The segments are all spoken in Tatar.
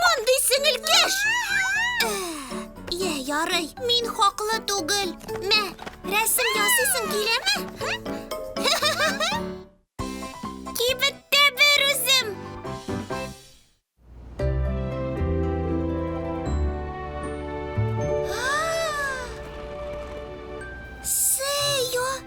Мондый сеңелкәш! Йә, ярый, мин хаклы түгел. Мә, рәсем ясыйсың киләме? Кибеттә бер үзем. Сео!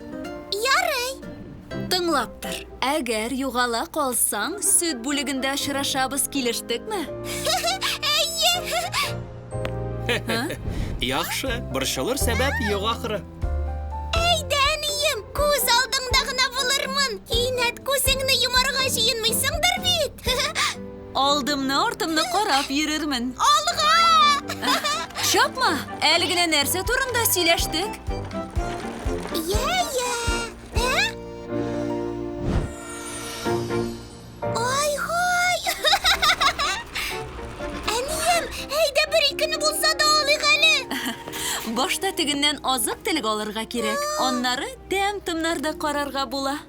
Ярый. Тыңлап тор. Әгәр югала калсаң, сөт бүлегендә очрашабыз, килештекме? Әйе. Яхшы, борчылыр сәбәп юк ахры. Әйдә, әнием, күз алдыңда гына булырмын. Кинәт күзеңне йомарга җыенмыйсыңдыр бит? Алдымны, артымны карап йөрермен. Алга! Чапма! Әле генә нәрсә турында сөйләштек? Йә, йә. Ә? Ай-һай! Әнием, әйдә бер-икене булса да алыйк әле. Башта тегеннән азык-төлек алырга кирәк, аннары тәм-томнар да карарга була.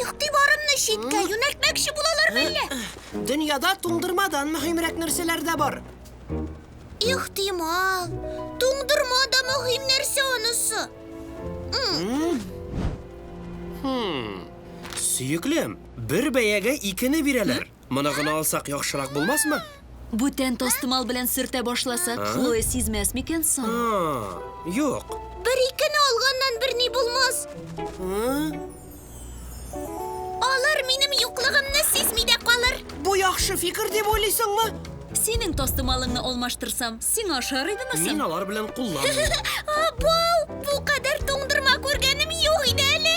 Игътибарымны читкә юнәлтмәкче булалар мәллә? Дөньяда туңдырмадан мөһимрәк нәрсәләр дә бар. Ихтимал. Туңдырма да мөһим нәрсә анысы. Сөеклем, бер бәягә икене бирәләр. Моны гына алсак яхшырак булмасмы? Бүтән тастымал белән сөртә башласак, Хлоя сизмәс микән соң? Юк. Бер-икене алганнан берни булмас. Алар минем юклыгымны сизми дә калыр. Бу яхшы фикер дип уйлыйсыңмы? Синең тастымалыңны алмаштырсам, сиңа ошар идеме соң? Мин алар белән кулланмыйм. Абау, бу кадәр туңдырма күргәнем юк иде әле.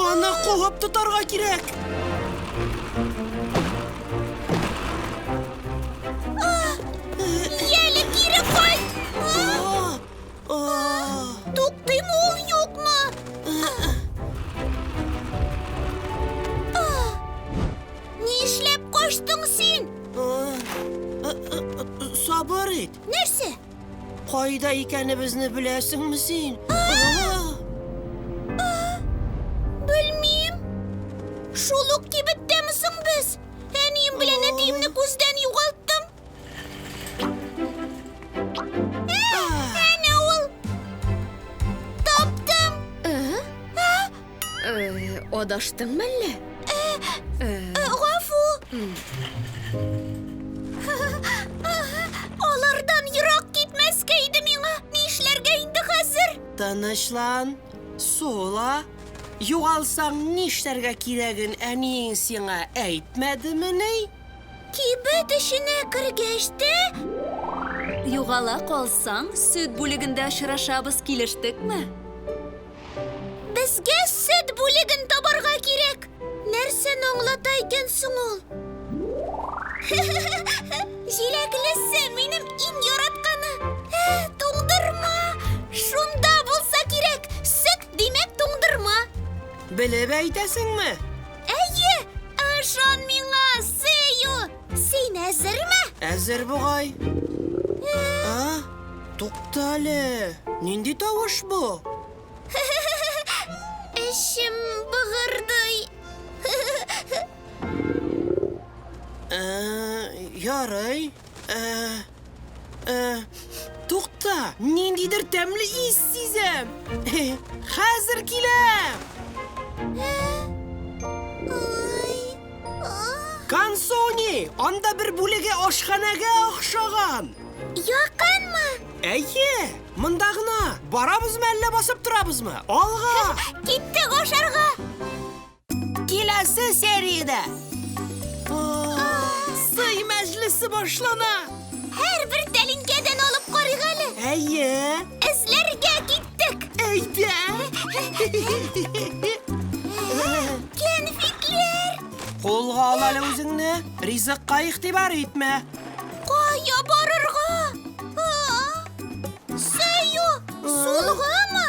Аны кулап тотарга кирәк. Ияле кире кайт! Туктыймы ул юкмы? Нишләп качтың син? Сабыр ит. Нәрсә? Кайда икәнебезне беләсеңме син? Белмим. Шул ук кибеттәме соң без? Әнием белән әтиемне күздән югалттым. Әнә ул. Таптым. Адаштың мәллә? Гафу! Алардан ерак китмәскә иде миңа. Ни эшләргә инде хәзер? Тынычлан, сула. Югалсаң, нишләргә кирәген әниең сиңа әйтмәдемени? Кибет эченә кергәч тә... Югала калсаң, сөт бүлегендә очрашабыз, килештекме? Безгә сөт бүлеген табарга кирәк. Нәрсәне аңлата икән соң ул? Җиләклесе минем иң яратканы. Ә, туңдырма! Шунда булса кирәк. Сөт, димәк, туңдырма. Белеп әйтәсеңме? Әйе, ышан миңа, Сею! Син әзерме? Әзер бугай. А? Туктале. Нинди тавыш бу? Эчем быгырдый. Э, ярый. Э, Э, Тукта, ниндидер тәмле ис сизәм. Хәзер киләм. Кансони, анда бер бүлеге ашханәгә охшаган. Якынмы? Әйе, монда гына. Барабызмы әллә басып торабызмы? Алга! Киттек ашарга! Киләсе сериядә сый мәҗлесе башлана. Һәрбер тәлинкәдән алып карыйк әле. Әйе. Эзләргә киттек. Әйдә. Кәнфитләр. Кулга ал әле үзеңне. Ризыкка игътибар итмә. Кая барырга? Сый юк. Сулгымы?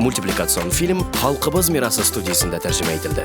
Мультипликацион фильм Халкыбыз мирасы студиясендә тәрҗемә ителде.